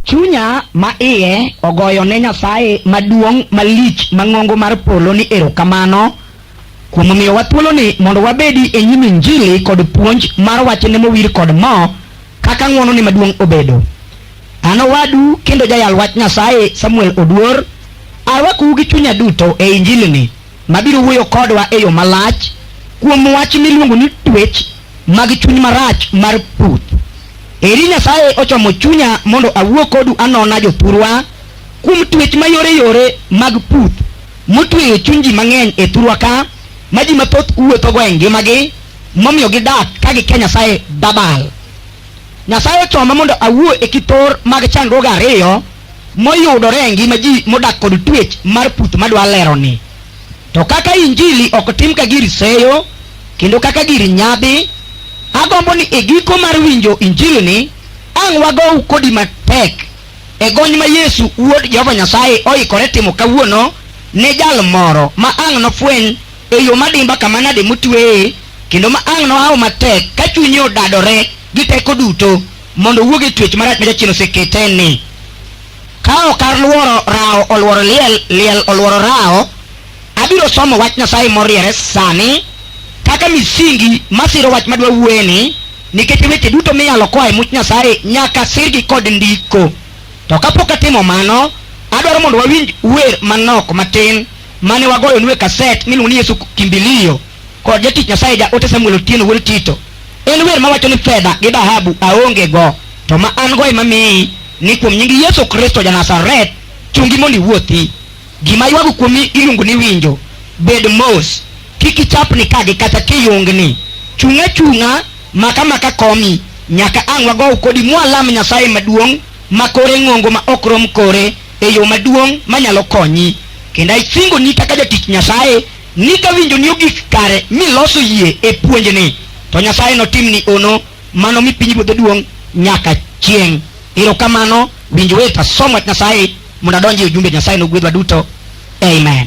Chunya ma iye ogoyo ne Nyasaye maduong' malich mang'ongo mar polo ni erokamano kuom miyowa thuoloni mondo wabedi e nyim injili kod puonj mar wachne mowir kod mo kaka ng'wonone maduong' obedo. An owadu kendo jayal wach Nyasaye Samuel Oduor arwakou gi chunya duto e injilini. mabiro wuoyo kodwa e yo malach kuom wach miluongo ni twech mag chuny marach mar puth. Eri Nyasaye ochomo chunya mondo awuo kodu anona jothurwa kuom twech mayore yore mag puth motweyo chuny ji mang'eny e thurwa ka ma ji mathoth wuothogo e ngimagi momiyo gidak ka gikia Nyasaye dabal. Nyasaye ochoma mondo awuo e kithor mag chandruoge ariyo moyudore e ngima ji modak kod twech mar puth madwa leroni. To kaka injili ok tim ka gir seyo kendo kaka gir nyadhi, agombo ni e giko mar winjo injilini ang' wagow kodi matek e gony ma Yesu wuod Jehova Nyasaye oikore timo kawuono ne jal moro ma ang' nofweny e yo madimba kama nade motweye kendo ma ang' nohaw matek ka chunye odadore gi teko duto mondo owuog e twech marach ma jachien osekete ni ka ok alworo rawo olworo liel liel olworo rawo abiro somo wach nyasaye moriere sani kaka misingi masiro wach madwa wueni nikech weche duto miyalo koa e much nyasaye nyaka sirgi kod ndiko to kapok atimo mano adwaro mondo wawinj wer manok matin mane wagoyo nue kaset miluongo ni yesu kimbilio kod jatich Nyasaye ja ote Samuel Otieno wuod Tito. En wer mawacho ni fedha gi dhahabu aonge go, to ma an go ema miyi ni kuom nying Yesu Kristo ja Nazareth, chungi mondo iwuothi. Gima ywago kuomi iluongo ni winjo. Bed mos, kik ichapni ka gi kacha kiyungni. Chung' achung'a, mak amaka komi, nyaka ang' wagow kodi mwalam Nyasaye maduong' ma kore ng'ongo ma ok rom kore e yo maduong' manyalo konyi. Kendo asingoni kaka jatich Nyasaye Ni ka winjoni ogik kare miloso yie e puonjni, to Nyasaye notimni ono mano mi pinyruodhe duong' nyaka chieng'. Erokamano, winj wet, asom wach Nyasaye mondo adonj e ujumbe. Nyasaye nogwedhwa duto. Amen.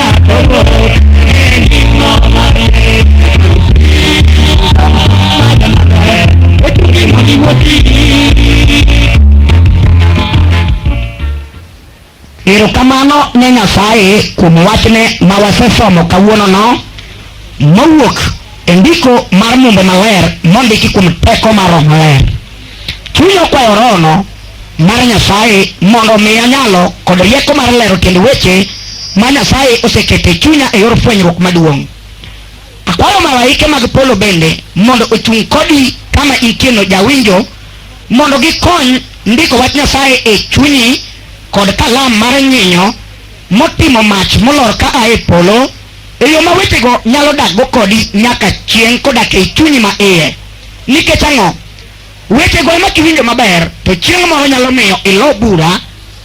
Erokamano ne Nyasaye kuom wachne ma wasesomo kawuonono mowuok e ndiko mar Mumbe Maler mondiki kuom teko mar Roho Maler. Chunya okwayo rohono mar Nyasaye mondo omiya nyalo kod rieko mar lero tiend weche ma Nyasaye osekete chunya e yor fwenyruok maduong'. Akwayo malaike mag polo bende mondo ochung' kodi kama intieno jawinjo mondo gikony ndiko wach Nyasaye e chunyi kod kalam mar nyinyo motimo mach molor ka a e polo e yo ma wechego nyalo dakgo kodi nyaka chieng' kodak e chunyi ma iye. Nikech ang'o? Wechego ema kiwinjo maber to chieng' moro nyalo miyo ilo bura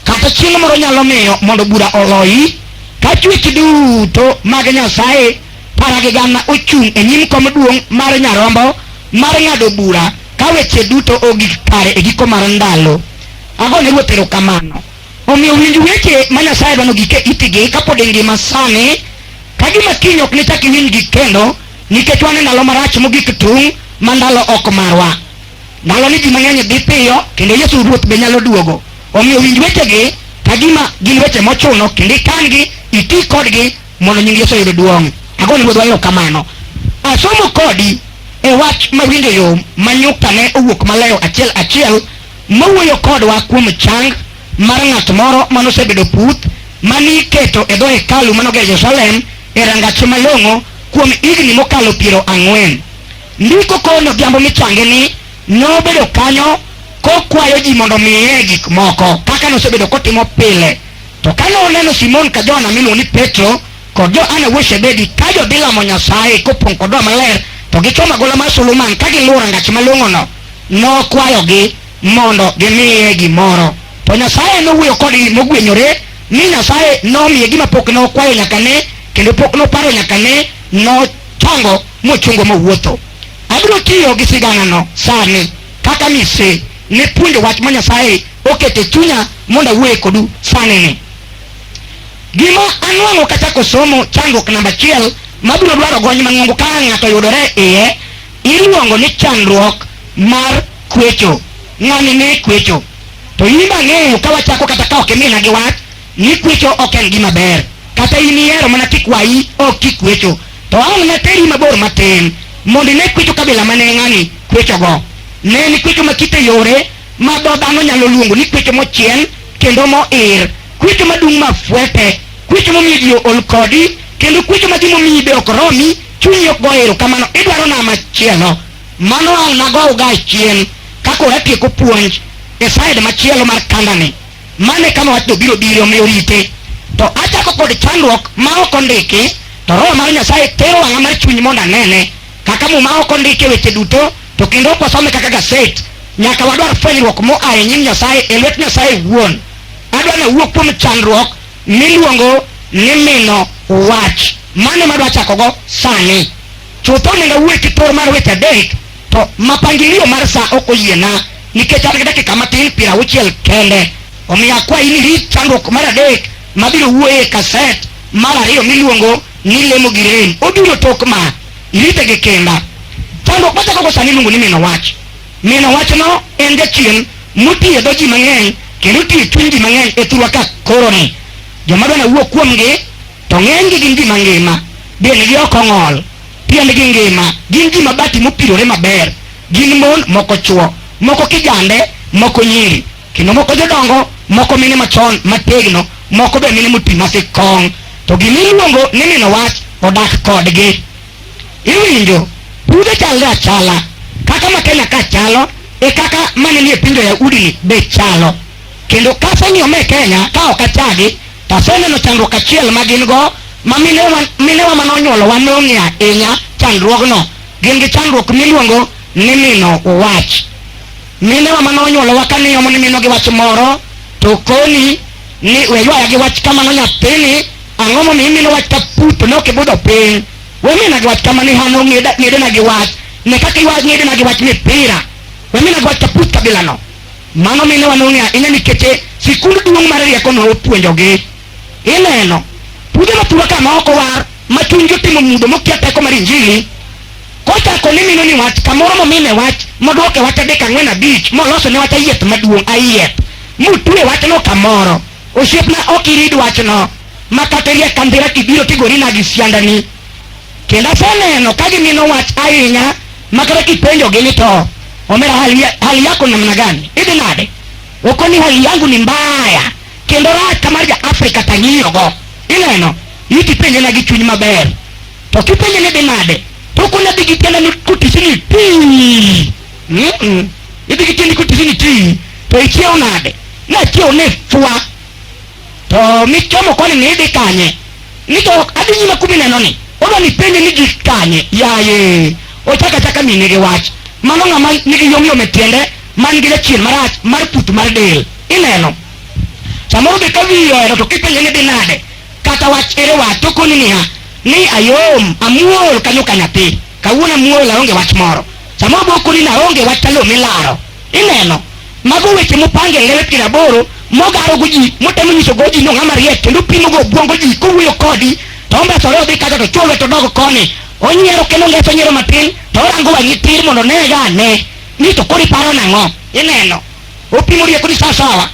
kata chieng' moro nyalo miyo mondo bura oloyi ka chwech duto mag Nyasaye para gi gana ochung' e nyim kom duong' mar Nyarombo mar ng'ado bura ka weche duto ogik kare e giko mar ndalo. Ago ne Ruoth erokamano. Omiyo winj weche ma Nyasaye dwano gik e itigi kapod ingima sani ka gima kiny ok nichak iwinjgi kendo Nikech wan e ndalo marach mogik tung' ma ndalo ok marwa. Ndalo ni ji mang'eny dhi piyo kendo Yesu Ruoth be nyalo duogo. Omiyo winj wechegi ka gima gin weche mochuno kendo ikan-gi, iti kodgi mondo nying Yesu oyud duong'. Agone Ruodhwa erokamano. Asomo kodi e wach ma winjo yom ma nyukta ne owuok malewo achiel achiel mawuoyo kodwa kuom chang mar ng'at moro manosebedo puth mani iketo e dho hekalu manoger Jerusalem e rangache malong'o kuom higni mokalo piero ang'wen. Ndiko kono odhiambo michange ni nobedo kanyo kokwayo ji mondo miye gik moko kaka nosebedo kotimo pile. To kane oneno Simon ka Johana miluongo ni Petro kod Johana wuod Shebedi ka jodhi lamo Nyasaye kopong' kod Roho Maler to gichomo agola mar Solomon ka giluwo rangach malong'ono, nokwayogi mondo gimiye gimoro. To Nyasaye nowuoyo kodgi mogwenyore Ni Nyasaye nomiye gima pok nokwayo nyaka ne, kendo pok noparo nyaka ne, nochongo mochungo mowuotho. Abiro tiyo gi siganano sani kaka mise ne puonjo wach ma Nyasaye okete chunya mondo awuoye kodu sani ni. Gima anwang'o kachako somo chandruok namba achiel mabiro dwaro gony mang'ongo ka ng'ato yudore iye iluongo ni chandruok mar kwecho. Ng'ani ne kwecho. To in ang'eyo ka wachako kata ka ok imina gi wach ni kwecho ok en gima ber. Kata in ihero mana kikwayi ok kikwecho. To ang' nateri mabor matin mondo ine kwecho kabila ma ne ng'ani kwechogo. Ne en kwecho ma kite yore ma dho dhano nyalo luongo ni kwecho mochiel kendo moir, kwecho madung' ma fwete, kwecho momiyo ji ool kodi, kendo kwecho ma gimomiyi be ok romi, chunyi ok go erokamano, idwaro na machielo. Mano ang' nagow ga chien ka koro atieko puonj e side machielo mar kandani. Mano e kama wachno biro biro omiyo rite. To achako kod chandruok ma ok ondiki to roho mar Nyasaye tero wang'a mar chuny mondo anene kaka muma ok ondiki weche duto to kendo ok wasome kaka gaset. Nyaka wadwar fwenyruok moa e nyim Nyasaye e lwet Nyasaye wuon. Adwa ni awuo kuom chandruok miluongo ni mino wach. Mano ema adwa chakogo sani. Chutho onego awuoye ki thor mar weche adek to mapangilio mar sa ok oyiena nikech an gi dakika matin piero auchiel kende. Omiyo akwayi ni rit chandruok mar adek mabiro wuoye e kaset mar ariyo miluongo ni lemo gi rem. Obiro tok ma. Irite gi kinda. Chandruok machako go sani iluongo ni mino wach. Mino wachno en jachien motiyo e dho ji mang'eny kendo otiyo e chuny ji mang'eny e thurwa ka koroni. Joma dwa nawuo kuomgi To ng'enygi gin gima ngima, dendgi ok ong'ol, piendgi ngima, gin ji mabati mopirore maber, gin mon, moko chwo, moko kijande, moko nyiri, kendo moko jodongo, moko mine machon mategno, moko be mine moti masik kong'. To gima iluongo ni mino wach odak kodgi. Iwinjo, pudhe chalre achala, kaka ma Kenya ka chalo, e kaka mane nie pinje Yahudi ni be chalo. Kendo kase ni ome Kenya ka ok achagi, to aseneno chandruok achiel ma gin go ma minewa minewa mane onyuolowa nong'e ahinya chandruogno. Gin gi chandruok miluongo ni mino wach. Minewa mane onyuolowa ka niomo ni mino gi wach moro to koni ni we ywaya gi wach kamano nyathini ang'o momiyo imino wach ka put ne ok ibudho piny. We mina gi wach kamano ihano ng'eda- ng'edena gi wach. Ne kaka iwa- ng'edena gi wach mipira. We mina gi wach ka put kabilano. Mano mine wa nong'e ahinya nikech e sikund duong' mar rieko ne opuonjogi. Ineno, pude mathura ka ma ok owar ma chunygi otimo mudho mokia teko mar Injili, kochako ni mino ni wach kamoro momine wach modwoke wach adek ang'wen abich moloso ne wach ayieth maduong' ayieth mutue wachno kamoro. Osiepna ok irid wachno ma kata iriek ka ndhira kibiro tigori nadi siandani. Kendo aseneno ka gimino wach ahinya makata kipenjogi ni to omera hali, ya- hali yako namna gani idhi nade okoni hali yangu ni mbaya kendo rach kamar ja afrika tang'iyogo ineno ikipenje na gi chuny maber to kipenje ni dhi nade to okoni adhi gi tienda ni kotisi ni ti Mm-mm. idhi gi tiendi kotisi ni ti to ichiew nade nachiew ni fwa To michomo koni ni idhi kanye? Ni to adhi nyime kumi neno ni. Oda ni penje ni gik kanye? Yaye. Ochaka chaka mine gi wach. Mano ng'ama nigi yom yom e tiende man gi jachien marach mar put mar del. Ineno. Samoro be ka wiyi ohero to kipenje ni dhi nade? Kata wach ere wach to koni niya ni ayom, amuol kanyo ka nyathi. Kawuono muol aonge wach moro. Sama obokoni na aonge wach talo milaro. Ineno? Mago weche mopang e ngele piero aboro mogaro go ji motemo nyiso go ji ni ong'ama riek kendo pimo go obwongo ji kowuoyo kodi to ombesore odhi kacha to chwolwe to dogo koni onyiero kendo ngeso nyiero matin to orango wang'i tir mondo onega ane ni to koro iparo nang'o ineno opimo rieko ni sawasawa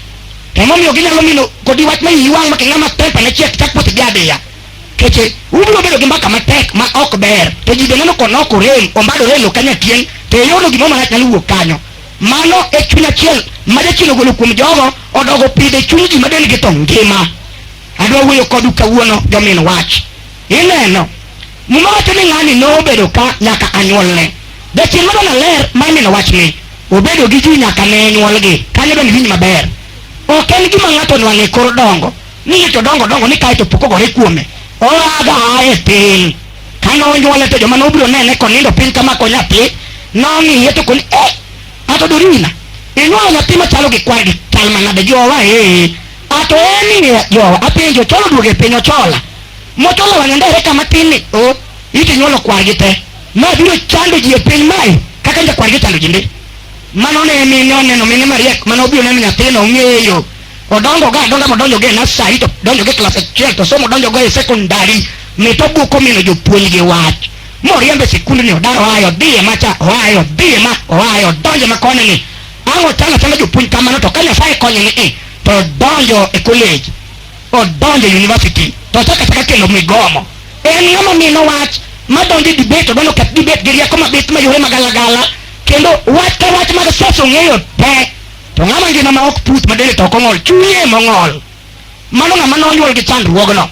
emomiyo ginyalo mino kodi wach ma iyi wang' ma king'ama tempa ne chiek chak posedi adiya keche ubiro bedo gi mbaka matek ma ok ber to ji beneno konok orem ombado relo kanya tieng' to eyorno gimoro marach nyalo wuok kanyo mano e chuny achiel ma jachien ogolo kuom jogo odogo pidhe chuny ji ma dendgi to ngima adwa wuoyo kodu kawuono jomin wach ineno muma wacho ni ng'ani nobedo ka nyaka anyuolne jachien mano naler ma imino wach ni obedo gi ji nyaka ne nyuolgi kanyo bende winj maber ok en gima ng'ato nwang'e kor dongo ni to dongo dongo ni kae to pok ogore kuome oaga a e piny kane onyuole to joma nobiro nene konindo piny kama ko nyathi nong'iye to koni eh ato dorina inyuolo nyathi machalo gi kwar gi chal manade jowa ee ato eni jowa apenjo cholo duogo e piny ochola mochola wang'e ndere kama tin ni o iti nyuolo kwar gi te ma biro chando ji e piny mae kaka njakwar gi chando ji ndi mano ne mine oneno mine mariek mane obiro neno nyathino ong'eyo Odongo ga adonga modonjo ge nasari to donjo ge klas achiel to somo donjo go e sekondari mit obuko mino jopuonj gi wach moriembe sikund ni odaro aye odhiye macha oaye odhiye ma oaye odonjo ma koni ni ang' ochano achana jopuonj kamano to ka nyasaye konye ni i to odonjo e college odonjo e university to ochako achaka kelo migomo en ng'ama mino wach madonjo e debate odonjo ket debate gi rieko mabith mayore magalagala kendo wach ka wach mag siasa ong'eyo te To ng'ama ngima ma ok puth ma dende to ok ong'ol, chunye ema ong'ol. Mano ng'ama nonyuol gi chandruogno.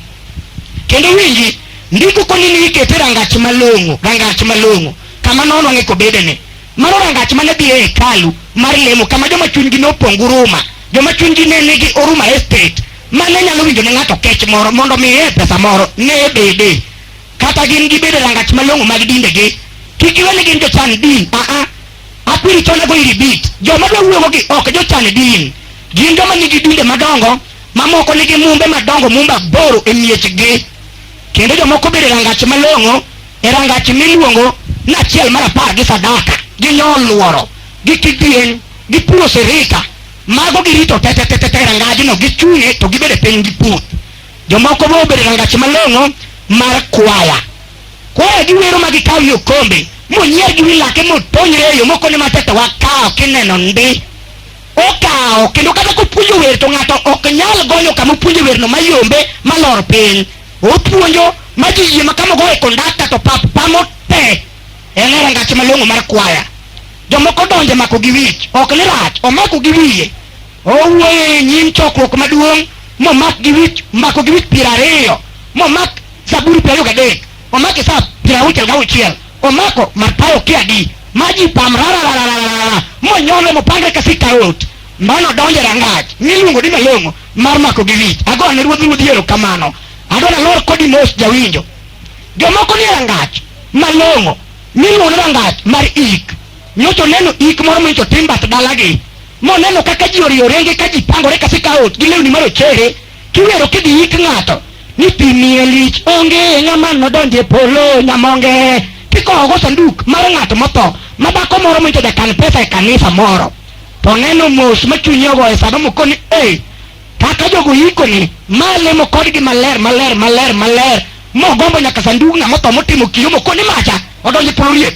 Kendo winji, ndiko koni ni ikete rangach malong'o, rangach malong'o, kama nonwang'e kobedene. Mano rangach mane dhi e hekalu mar lemo, kama joma chunygi nopong' guruma, joma chunygi ne nigi oruma estate, mane nyalo winjo ne ng'ato kech moro mondo miye pesa moro, ne bede. Kata gin gibede rangach malong'o mag dindegi, kik iwe ni gin jochan din, aa, Akwiri chonde go iri bit. Joma dwa wuogo gi ok jochan din. Gin joma nigi dinde madongo, mamoko nigi mumbe madongo mumba boro e miechgi. Kendo jomoko bere rangach malong'o e rangach miluongo ni achiel mar apar gi sadaka. Ginyol luoro, gi kidieny, gi puro sirika. Mago girito te te te te te rangajno gichung'e to gibede piny gi puth. Jomoko bo obere rangach malong'o mar kwaya. Koro giwero ma gikawo yo kombe monyier gi wi lake motonyre e yo mokone matete wakawo kineno ndi okawo kendo kata kopuonjo wer to ng'ato ok nyal gonyo kama opuonjo werno mayombe malor piny opuonjo ma ji yie ma kama ogoye kondakta to pap pamo te en e rangach malong'o mar kwaya jomoko donje mako gi wich ok ni rach omako gi wiye Owuoyo e nyim chokruok maduong' momak gi wich mako gi wich piero ariyo momak zaburi piero ariyo gadek omak isap piero auchiel gauchiel omako Mathayo kiadi ma ji pam rararararara monyone mopangre ka sikaot mano donjo e rangach miluongo ni malong'o mar mako gi wich agoyo ne ruodh ruodhi erokamano adwa nalor kodi mos jawinjo jomoko ni e rangach malong'o miluongo ni rangach mar ik nyocha oneno ik moro monyocha otim bath dalagi moneno kaka ji oriyo renge ka ji pangore ka sikaot gi lewni marochere kiwero kidhi ik ng'ato ni pi miye lich onge ng'ama nodonje polo nyamonge kikowogo sanduk mar ng'ato motho ma dhako moro monyocha jakan pesa e kanisa moro to oneno mos ma chunye ogoye sama moko ni ei kaka jogo yikoni ma lemo kodgi maler maler maler maler mogombo nyaka sandug ng'ama otho motimo kiyo mokoni macha odonje polo riek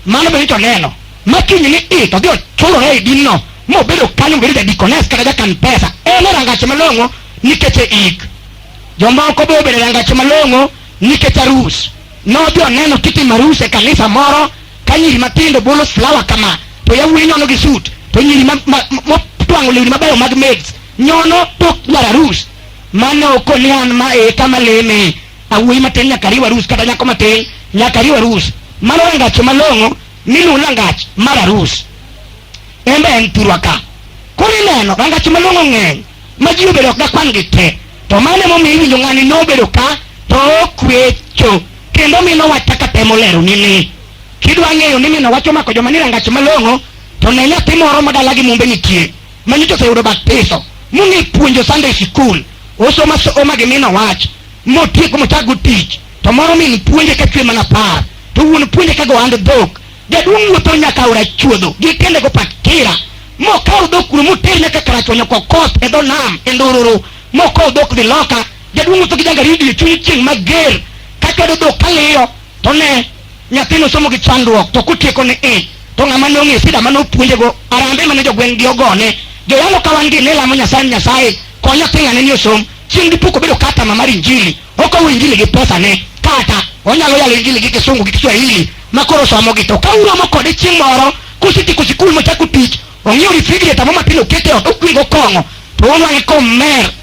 Mano bende to neno. Ma kinyne i to dhi ochulore e dinno mobedo kanyo mobedo jadikones kata jakan pesa. En e rangache malong'o nikech e ik. Jomoko be obedo e rangache malong'o nikech arus. Nodhi oneno kitimo arus e kanisa moro ka nyiri matindo bolo flower kama to yawuoyi nyono gi suit to nyiri ma- ma- ma- motwang'o lewni mabeyo mag maids nyono tok dwar arus. Mano ok ni an ma e kama leme awuoyi matin nyaka riw arus kata nyako matin nyaka riw arus mano rangach malong'o miluwo rangach mar arus en be en thurwa ka koro ineno rangach malong'o ng'eny ma ji obedo ok dakwan gi te to mano emomiyo iwinjo ng'ani nobedo ka to okwecho kendo mino wach kaka temo lero ni ni kidwa ng'eyo ni mino wach omako joma ni rangach malong'o to ne nyathi moro ma dalagi mumbe nitie ma nyocha oseyudo batiso mong'e puonjo Sunday school osomo asoma gi min owach motieko mochago tich to moro min puonje ka chwe mana par to wuon puonje ka gohand dhok jaduong' wuotho nyaka aora chuodho gi tiende go pakira mokawo dhok kuno moter nyaka karachuonyo kokos e dho nam e ndururu mokawo dhok dhi loka jaduong' wuotho gi jangaridi e chuny chieng' mager ka chwado dhok kaliyo To ne, nyathino somo gi chandruok to kotieko ni i, to ng'ama ne ong'e sida mane opuonjego, arambe mane jogweng' gi ogone, joyalo ka wan gi ne lamo Nyasaye ni Nyasaye, kony nyathi ng'ane ni osom, chieng' dipo kobedo customer mar injili, okowo injili gi pesa ne, kata, onyalo yalo injili gi kisungu gi kiswahili, ma koro osomogi, to ka uromo kode chieng' moro, kosetieko sikul mochako tich, ong'iew refrigerator mo matin okete ot, okwingo kong'o, to onwang'e komer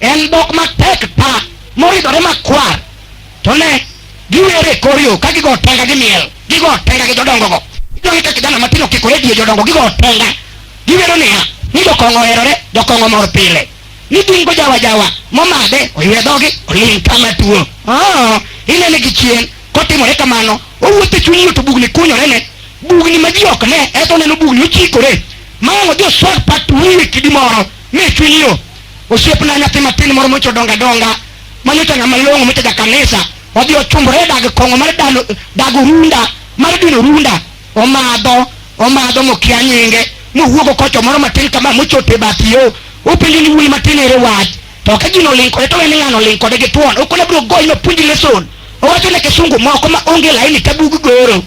En dhok matek pa moridore makwar. To ne, giwer e kor yo ka gigo tenga gi miel, gigo tenga gi jodongogo. Idong' ka kijana matin okikore diye jodongo gigo tenga. Giwero niya, ni jokong'o oherore, jokong'o mor pile. Ni gin go jawa jawa, momadhe, oywe dhogi, oling' kama tuo. Ah, inene gi chien, kotimore kamano, owuotho e chuny yo to bugni kunyore ne. Bugni ma ji ok ne, eto oneno bugni ochikore. Ma odhi oswag pat wiye kidi moro. Miss Wilio, osiepna nyathi matin moro mocho donga donga, manyocha ng'ama long'o mocha ja kanisa, odhi ochumbore e dag kong'o mar dano dag orunda mar dino orunda, omadho omadho mokia nyinge mowuogo kocho moro matin kama mochote bath yo, openjo ni wuoyi matin ere wach, to ka gino oling kode to wene ng'ano oling kode gi tuon, okone biro goyi no puonji lesson, owacho ne kisungu moko ma onge laini tabug goro.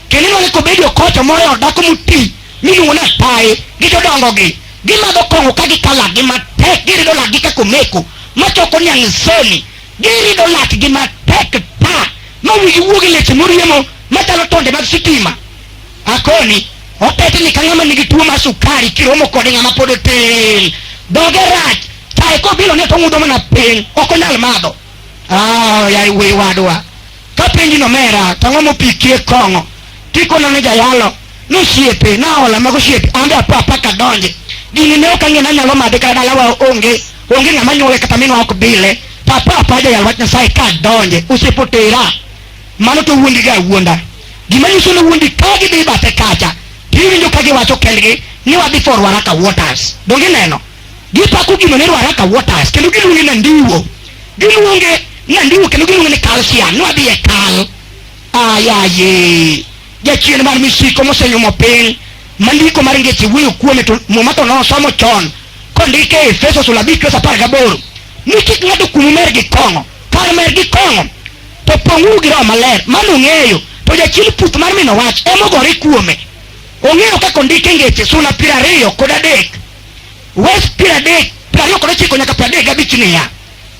kendo inwang'e kobedo kocha moro dhako moti miluongo ni apaye gi jodongogi gimadho kong'o ka gikalagi matek girido lakgi kaka omeko machoko niang' soni girido lakgi matek ta ma wigi wuogi leche moriemo machalo tonde mag sitima akoni otetni ka ng'ama nigi tuo mar sukari kiromo kode ng'ama pod otin dhoge rach tae kobilo ne to ng'udo mana piny ok onyal madho Ah, yaye wuoyi wadwa Kapenji ni omera to ang'o mopikie kong'o kikono ni jayalo ni osiepe naola mago osiepe ambe apo apaka donje gini ne ok ang'e nanyalo madhe kata dalawa onge onge ng'ama nyuowe kata minwa ok bile to apo apo ajayal wach nyasaye ka donje osiepe otera mano to wuondi ga wuonda gima nyiso ni wuondi ka gidhi bathe kacha tiwinjo ka giwacho kendgi ni wadhi for waraka waters donge neno Gipako gino ni Ruaraka Waters kendo giluonge na Ndiwo. Giluonge na Ndiwo kendo giluonge ni Kalsia. Nwadhi e kal. Ayaye. Jachien mar misiko mosenyumo piny. Mandiko mar ngeche wuoyo kuome to muma to nosomo chon. Kondike e Efeso sula abich verse apar gaboro. Ni kik ng'ato kumu mer gi kong'o. Kar mer gi kong'o to pong'uru gi roho maler. Mano ung'eyo to jachien puth mar mino wach emogore kuome. Ong'eyo kaka ondike ngeche sula piero ariyo kod adek Wes piero adek piero ariyo kod ochiko nyaka piero adek gabich niya,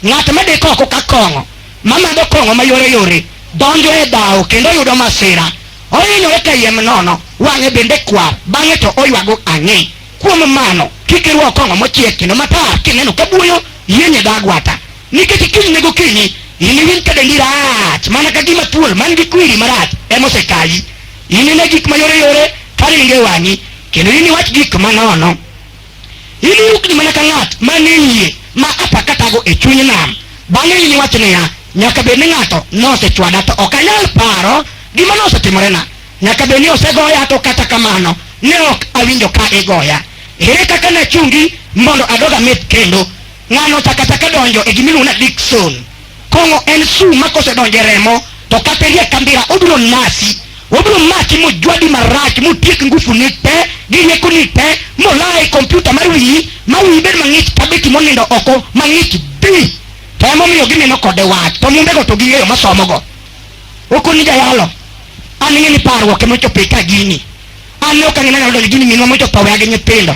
ng'at ma deko oko ka kong'o mamadho kong'o mayore yore donjo e dhawo kendo yudo masira ohinyore ka yiem nono wang'e bende kwar bang'e to oywago ang'e kuom mano kik irwak kong'o mochiek kendo matar kineno ka buoyo yienye dho agwata Nikech kinyne gokinyi iniwinj ka dendi rach mana ka gima thuol man gi kwiri marach ema osekayi. Inine gik mayoreyore ka ringo e wang'i, kendo iniwach gik manono. Iniyukni mana ka ng'at manie yie ma apakatago e chuny nam. Bang'e iniwach niya, Nyaka bed ni ng'ato nosechwada, to ok anyal paro gima nosetimorena. Nyaka bed ni osegoya, to kata kamano ne ok awinjo ka igoya. Ere kaka nachungi mondo adog ameth kendo? Ng'ano ochako achaka donjo e gimiluongo ni addiction. Kong'o en sum ma kosedonjo e remo to kata iriek ka mbira obiro nasi. Obiro maki mojwadi marach motiek ngufuni te gi riekoni te molaa e kompyuta mar wiyi ma wiyi bed mang'ich ka beti monindo oko mang'ich bi. To emomiyo gineno kode wach to mumbego to ging'eyo ma somogo. Okoni jayalo an ing'e ni parruok emochopo e ka gini. An ne ok ang'e ni anyalo donjo e gini minwa mochopo aweya gi nyithindo.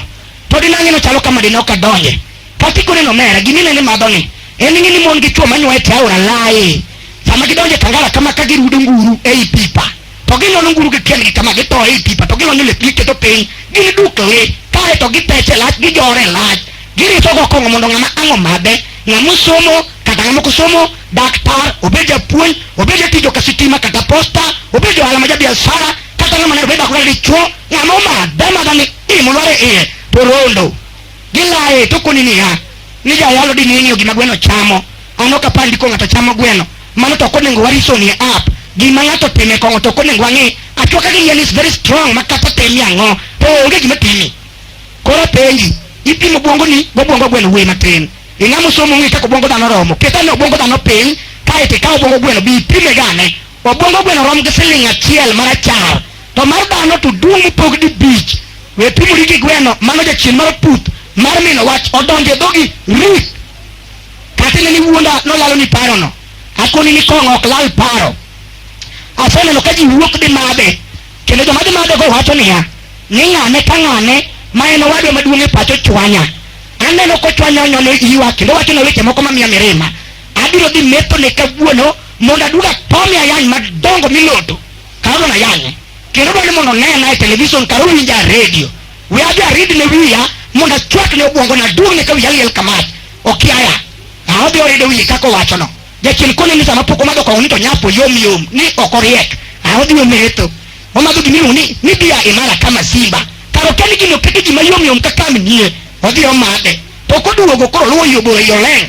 to dinang'e no chalo kama dinok adonje katiko neno mera gimine ni madho ni en ng'e ni mon gi chwo manyuaye te aora laye sama gidonje kangala kama ka girudo nguru ei pipa to ginono nguru gi kendgi kama gito ei pipa to gilonyo lepgi keto piny gini duk le kae to gipeche lach gijore lach giriso go kong'o mondo ng'ama ang' omadhe ng'ama osomo kata ng'ama ok osomo daktar obed japuonj obed jatij oka sitima kata posta obed johala ma jabiashara kata ng'ama ne obed akora dichwo ng'ama omadhe amadha ni imulware iye to rondo gilaye to koni niya ni jayalo di ning'iyo gima gweno chamo ano kapar ndiko ng'ato chamo gweno mano to konego wariso ni app gima ng'ato time kong'o to konego wang'e achuoka gi yien is very strong ma kata temi ang'o to onge gima timi koro penji ipimo bwongo ni go bwongo gweno wuoyi matin ing'amo somo ng'e kaka obwongo dhano romo ketane obwongo dhano piny kae to ikawo obwongo gweno bi ipime gane Obwongo gweno rom gi siling' achiel marachar, to mar dhano to duong' mopog dibich. We pimori gi gweno, mano jachien mar puth mar mino wach odonjo e dhogi rit. Kata ineni wuonda nolaloni parono, akoni ni kong'o ok lal paro. Aseneno ka ji wuok dhi madhe, kendo joma dhi madhego wacho niya, ni ng'ane ka ng'ane ma en owadwa maduong' e pacho chwanya. Aneno kochwanyo onyono iwa kendo wachona weche moko mamiya mirima. abiro dhi metho ne kawuono mondo aduga pome ayany madongo miloto karono ayanye kendo dwani mondo nena e television karo winja a redio we adhi arid ne wiya mondo achwak ne obwongo na duong ne ka wiya liel kamach okiaya aodhi orido wiye kaka owachono jachien kone ni sama pok omadho kong'o ni to nyapo yom yom ni ok oriek aodhi ometho omadho gimiluongo ni ni bia imara kama simba karo kani gino kete gima yom yom kaka mnie odhi omadhe to koduogo koro luwo yobo e yoleng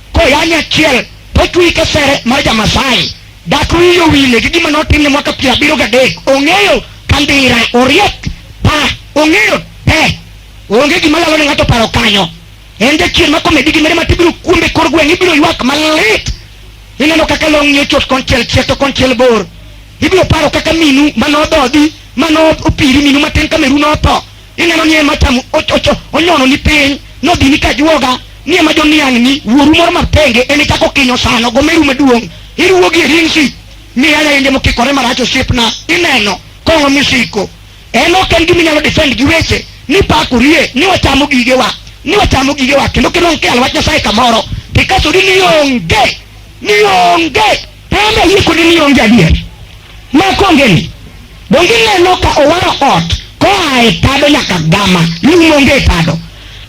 koyanye achiel totwi kesere mar jamasai dak wiyo wile gi gima notimne mwaka piero abiriyo gadek ong'eyo kandira oriek pa ong'eyo te onge gima lalo ne ng'ato paro kanyo en jachien ma komedi gi mere ma tibiro kuombe kor gweng' ibiro ywak malit ineno kaka long'ni ochot konchiel chiek to konchiel bor ibiro paro kaka minu manododhi manopiri minu matin ka meru notho ineno ni ema chamo onyono ni piny nodhi ni ka juoga ni ema joniang' ni wuoru moro mapenge en ichako kinyo sano gomeru maduong' iruwogi e ringsi miya lainde mokikore marach osiepna ineno kong'o misiko en ok en gima inyalo defend gi weche ni pakorie ni wachamo gigewa ni wachamo gigewa kendo kidong' kial wach nyasaye kamoro tikasori ni onge ni onge Panda yie kodi ni onge adier. Mako ongeni. Donge ineno ka owaro ot koa e tado nyaka gama lum onge e tado.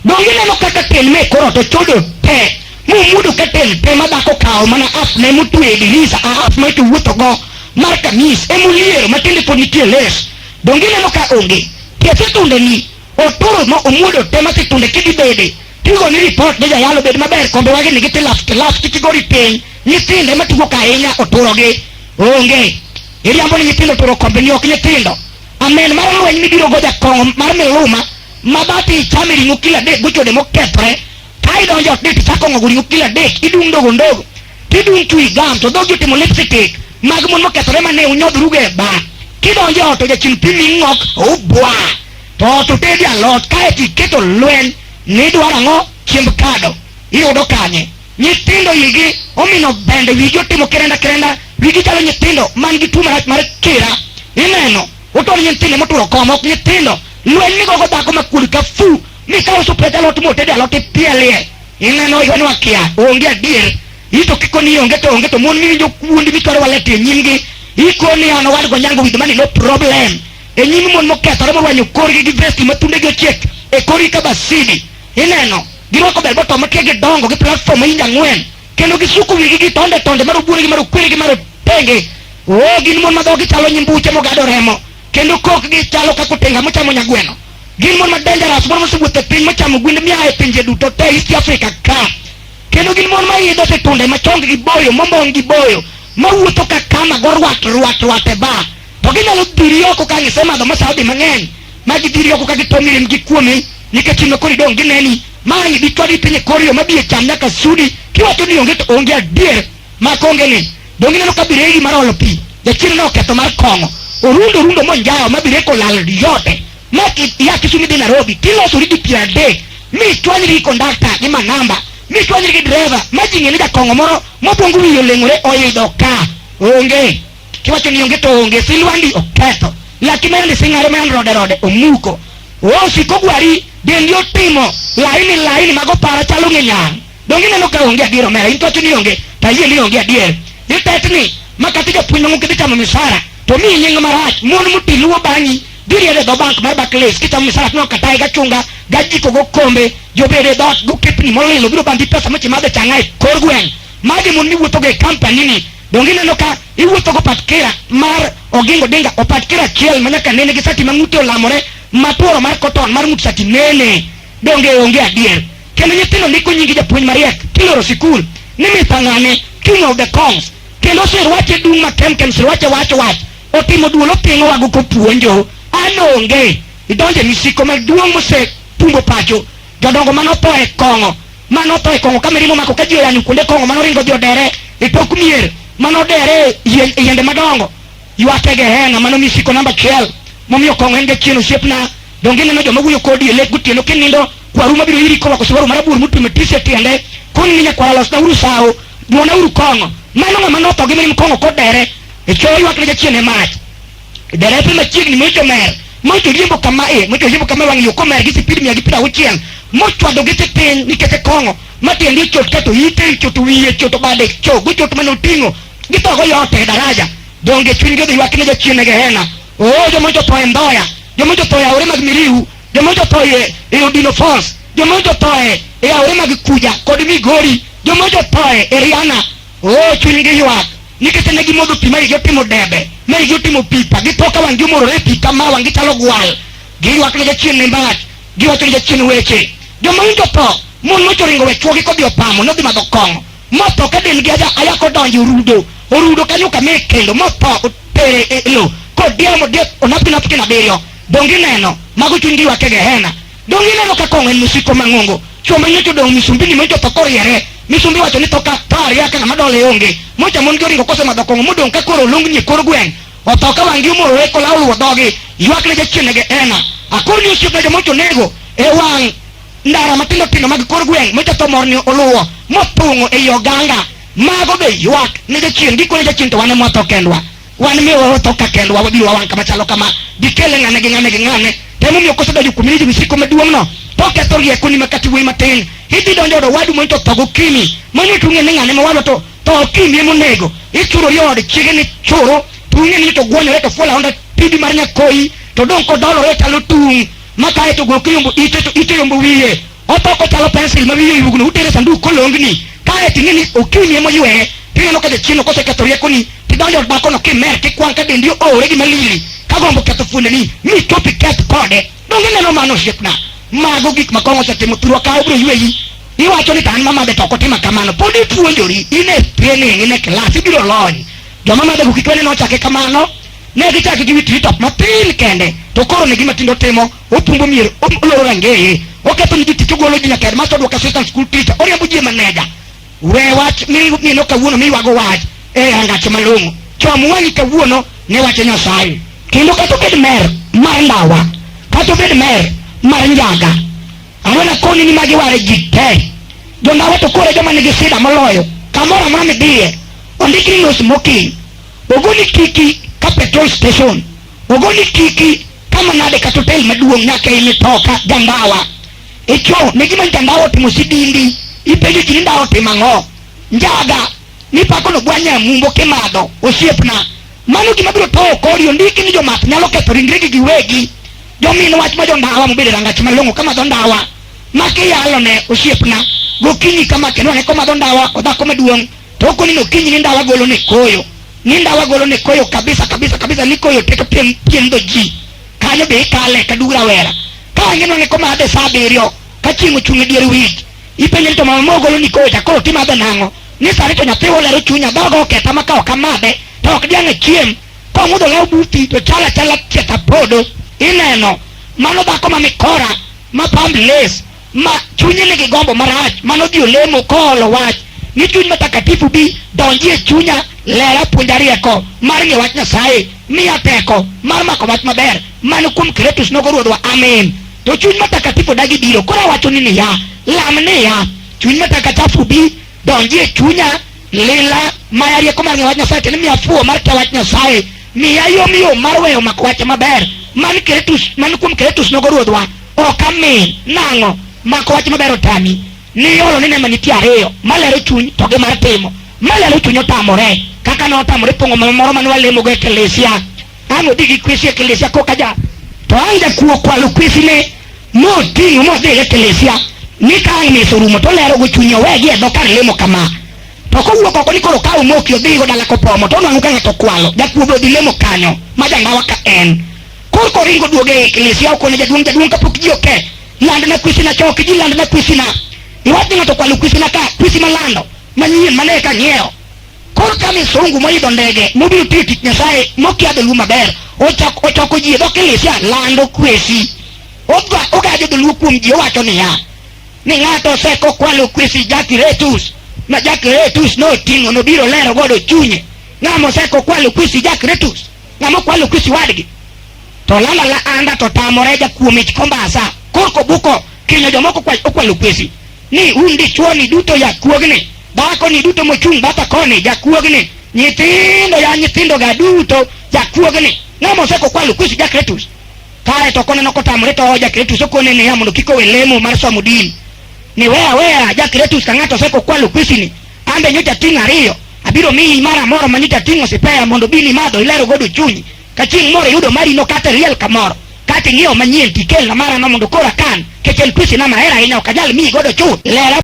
Donge ineno kaka tel me koro to chodo te mumudo ka tel te ma dhako kawo mana app ne mutwe e dirisa a app ma to wuotho go mar kamis emuliero matende pod nitie les. Donge ineno ka onge. Tiese tunde ni Otoro ma omuodo te ma situnde kidi bede. Tigo ni report ne jayalo bed maber kombe wagi ni giti last last kiti gori piny. Nyithinde ma tugo ka ahinya oturo gi. Onge. Iriambo ni nyithindo oturo kombe ni ok nyithindo. Amen mar lweny mibiro go jakong'o mar miluma ma bati ichame ring'o kila dek gochode mokethre. Ka idonjo ot dek ichako ng'ogo ring'o kila dek idung' ndogo ndogo. Kidung' twi gam to dhogi otimo lipstick mag mon mokethore mane unyodhrugo e ba. Kidonjo e ot ojachim pi ming'ok ubwa. To ot otedi alot kaeto iketo lweny ni idwaro ang'o chiemb kado. Iyudo kanye? Nyithindo igi omino bende wigi otimo kerenda kerenda wigi chalo nyithindo man gi tuo marach mar kira. Ineno utor nyithindo moturo koma ok nyithindo lweny migogo dhako makuod ka fu mikawo supet alot motedi alot ipielie Ineno ywanwa kia, onge adier. Ito kiko ni onge to onge to mon miwinjo kuondi mitwaro walete e nyimgi. Iko ni an owadgo nyango with mani no problem. E nyim mon mokethore morwanyo korgi gi vesti ma thundegi ochiek e korgi ka basidi. Ineno, girwako bel boto makia gidongo gi platform ma inj ang'wen. Kendo gisuko wigi gi tonde tonde marobuonegi marokweregi marotenge. Oo gin mon ma dhogi chalo nyimbuche mogado remo. kendo kokgi chalo kaka otenga mochamo nyagweno. Gin mon ma dangerous, mon mosewuotho e piny mochamo gwende mia e pinje duto te East Africa ka. Kendo gin mon ma idho e tunde ma chonggi boyo, mombong' gi boyo, mawuotho ka kama go rwat rwat rwat e bar. To ginyalo dhiri oko ka gisemadho masaudi mang'eny, ma gidhiri oko ka gitong'i rem gi kuomi, nikech in koro idong' gineni. Mae dichwadi piny e kor yo ma biye cham nyaka sudi, kiwacho ni onge to onge adier, ma kongene donge ineno ka biregi mar olo pi jachien ne oketho mar kong'o orundo orundo monjawo ma bireko olal yote ma ki- ia Kisumu idhi Nairobi tilosori gi piero adek mi ichwanyri gi kondakta gi manamba mi ichwanyri gi dereva ma ji ng'eni jakong'o moro mobongo wiye oleng'ore oidho ka onge kiwacho ni onge to onge silwandi oketho laki ma yande sing'are ma yande rode rode omuko osiko gwari dendi otimo laini laini mago para chalo ng'enyang' Donge ineno ka onge adier omera, in kawacho ni onge, to ayie ni onge adier. Itetni, ma kata japuonj mang'u kidhi chamo misara, to mi nying marach, mon muti luwo bang'i, giriere dho bank mar Barclays, kichamo misara tineno katae gachunga, gajiko gokombe, jobede dhot gokepni molilo biro bandi pesa mochi madhe chang'a e kor gweng'. Magi mon miwuothogo e company ni, donge ineno ka iwuotho go patkira mar Oginga Odinga, opatkira achiel ma nyaka nene gi sati ma ng'ute olamore, matuoro mar cotton mar ng'ut sati nene. Donge onge adier. kendo nyithindo ndiko nyingi japuonj mariek kiloro sikul ni Mr. Ng'ane king of the congs kendo osirwache dung' ma kemkem sirwache wach wach otimo duol opingo wago kopuonjo an onge idonje misiko maduong' mose pumbo pacho jodongo mane otho e kong'o mane otho e kong'o ka mirima omako ka ji oyanyo kuonde kong'o mane oringo odhi odere e tok mier mane odere e yien- e yiende madongo Ywake Gehenna, mano misiko namba achiel momiyo kong'o en jachien osiepna. Donge ineno joma wuoyo kodi e lek gotieno kinindo? Kwaru mabiro iri korwako siwaro marabur motwe matisi e tiende, koni ni nyakwara losnauru sawo, dwonauru kong'o. Mano ng'ama notho gi mirim kong'o kod dere, e cho ywak ne jachien e mach. Derepe machiegni mocho mer, mocho riembo kama e, mocho riembo kama e wang' yo komer gi sipid mia gi piero auchiel, mochwado gite piny nikech e kong'o, matiende ochot kato ite, ochot wiye, ochot bade, cho gochot mane oting'o, Gitoko yote e daraja. Donge chunygi odhi ywak ne jachien e gehena. Oo joma jotho e Mboya, joma jotho e aore mag Miriu, joma jotho e, e Odino Falls, joma jotho e, e aore mag Kuja kod Migori, joma jotho e, e Riana. Oo chunygi ywak nikech ne gimodho pi ma igi otimo debe, ma igi otimo pipa, githo ka wang'gi omorore e pi kama wang'gi chalo gwal. Giywak ne jachien ne mbach, giwacho ne jachien weche. Joma winjo tho, mon mochoringo we chwogi kodhi opamo, nodhi madho kong'o. motho ka del gi aja ayako donjo e orudo orudo kanyo kame kendo motho otere e lo kodieo modiek onap gi napkin abiriyo donge ineno mago chuny gi ywak e gehena donge ineno ka kong'o en mosiko mang'ongo chwo manyocha odong' misumbini manyocha otho koriere misumbi wacho ni thoka to aria ka ng'ama dole onge mocha mon gi oringo kosemadho kong'o modong' ka koro olongni e kor gweng' otho ka wang'gi omorore kola oluwo dhogi ywak ne jachien e gehena akor ni osiepna jomocha onego e wang' ndara matindo tindo mag kor gweng' ma jothomorni oluwo mothung'o ei oganga mago be ywak ne jachien gikone jachien to wan ema watho kendwa wan miyo watho ka kendwa wabiro wawang' kama chalo kama gikele ng'ane gi ng'ane gi ng'ane to emomiyo kosedonjo kuom ni jomsiko maduong'no to ketho riekoni ma kati wuoyi matin idhi donjo od owadu mondo to tho gokimi mano to ung'e ni ng'ane mowadwa to to okimi emonego ichurori od chiege ni churu to ung'e ni to gwonyore to fuol aonda pidi mar nyakoyi to dong' kodolore talo tung' ma kae to go kiyombo ite to ite yombo wiye otoko chalo pencil ma wiye yugno utere sanduk kolongni kae to ing'eni okiwni ema oyweye tineno ka jachieno koseketho riekoni tidonjo od dhakono kimer kikwang' ka dendi oore gi malili ka gombo ketho fuondeni mi chopi keth kode donge neno mano osiepna mago gik ma kong'o osetimo thurwa kawo biro yweyi iwacho ni to an mamadhe to ok otima kamano pod ipuonjori in e training in e kilas ibiro lony joma madhego kik wene nochake kamano Ne gichaki gi wi treetop matin kende, to koro ne gima tindo timo, opumbo mier, oloro rangeye, oketho ni jotich, ogolo ji nyaka headmaster, odwoko assistant school teacher, oriembo ji e maneja. We wach mineno kawuono miywago wach e angache malong'o. Chom wang'i kawuono ne wache Nyasaye. Kendo kata obed mer mar ndawa, kata obed mer mar njaga, awena koni ni magi ware ji te. Jondawa to kore joma nigi sida moloyo, kamoro amora midhiye, ondikni no smoking, ogoni kiki ka petrol station ogoni kiki kama nade kata hotel maduong' nyaka e mitoka jandawa icho ne gima jandawa otimo sidindi ipenjo ji ni ndawa otimo ang'o njaga nipako nogwanya e mumbo kimadho osiepna mano gima biro towo kori ondiki ni jomath nyalo ketho ringregi giwegi jomin wach ma jondawa mobedo e rangach malong'o kamadho ndawa makiyalone osiepna gokinyi kama kendo ane komadho ndawa odhako maduong' to koni no kinyi ni ndawa golo ne koyo ni ndawa golo ne koyo kabisa kabisa kabisa ni koyo teka piem piem do ji kanyo be ikale ka dura wera ka wangeno ne koma ade saa abiriyo ka chieng' ochung' e dier wich ipenje ni to mama mogolo ni koyo cha koro timadhe nang'o ni sani to nyathi olero chunya dhogo oketha ma ka ok amadhe to ok diang' e chiem ka ong'udho law buti to chalo achala chieth apodo ineno mano dhako ma mikora ma pamb les ma chunye nigi gombo marach mano dhi olemo koolo wach ni chuny matakatifu bi donji e chunya lera puonja rieko mar ng'e wach nyasaye miya teko mar mako wach maber mano kuom kretus nogo ruodhwa amen to chuny matakatifu dagi biro koro awachoni niya lam niya chuny matakatifu bi donjie chunya lila maya rieko mar ng'eyo wach nyasaye kendo miya fuwo mar kia wach nyasaye miya yomyom mar weyo mako wache maber man kretus man kuom kretus nogo ruodhwa ok amin nang'o mako wach maber otami niolo ni nema nitie ariyo malero chuny to gi mar timo malero chuny otamore kaka ne otamore pong'o moro mane walemogo e kelesia alo digi kwesi ekelesia koka ja to ang' jakuo kwalo kwesine moting'o modhi e ekelesia ni ka ang' mesa orumo to olero go chunye owegi e dho kar lemo kama to kowuok oko ni koro kaw moki odhigo dala kopomo to onwang'o ka ng'ato kwalo jakuo be odhi lemo kanyo ma jangawa ka en koro koringo duogo e ekelesia okone jaduong' jaduong' kapok ji oke landna kwisina choki ji landna kwisina iwach ni ng'ato kwalo kwisina ka kwisi malando manyien mane ka ng'iewo Koro ka misungu moidho ndege mobiro tiyo tich Nyasaye mokia dholuo maber ochak- ochoko ji e dho kilisia lando kwesi Oga- ogajo dholuo kuom ji owacho niya ni ng'ato oseko kwalo kwesi jakiretus ma jakiretus noting'o nobiro lero godo chunye ng'ama oseko kwalo kwesi jakiretus ng'ama okwalo kwesi wadgi to lala la anda to tamore jakuom ich kombasa korko buko kinyo jomoko kwa- okwalo kwesi ni un dichuoni duto jakuogni, dhakoni duto mochung' batha koni jakuogni, nyithindo ya nyithindoga duto jakuogni. Ng'ama oseko kwalo kusi Jakretus, kae to koneno kotamore to Jakretus okone niya mondo kik owe lemo mar somo din. Ni weya aweya Jakretus ka ng'ato oseko kwalo kusini, ambe nyocha ting' ariyo, abiro miyi mara moro ma nyocha ting'o sipeya mondo bini madho ilero godo chunyi. Ka chieng' moro iyudo mari nokate riel kamoro, kata ing'iewo manyien tikelna marano mondo koro akan, kech en tuochena mahero ahinya ok anyal miyi godo chuth. Lela.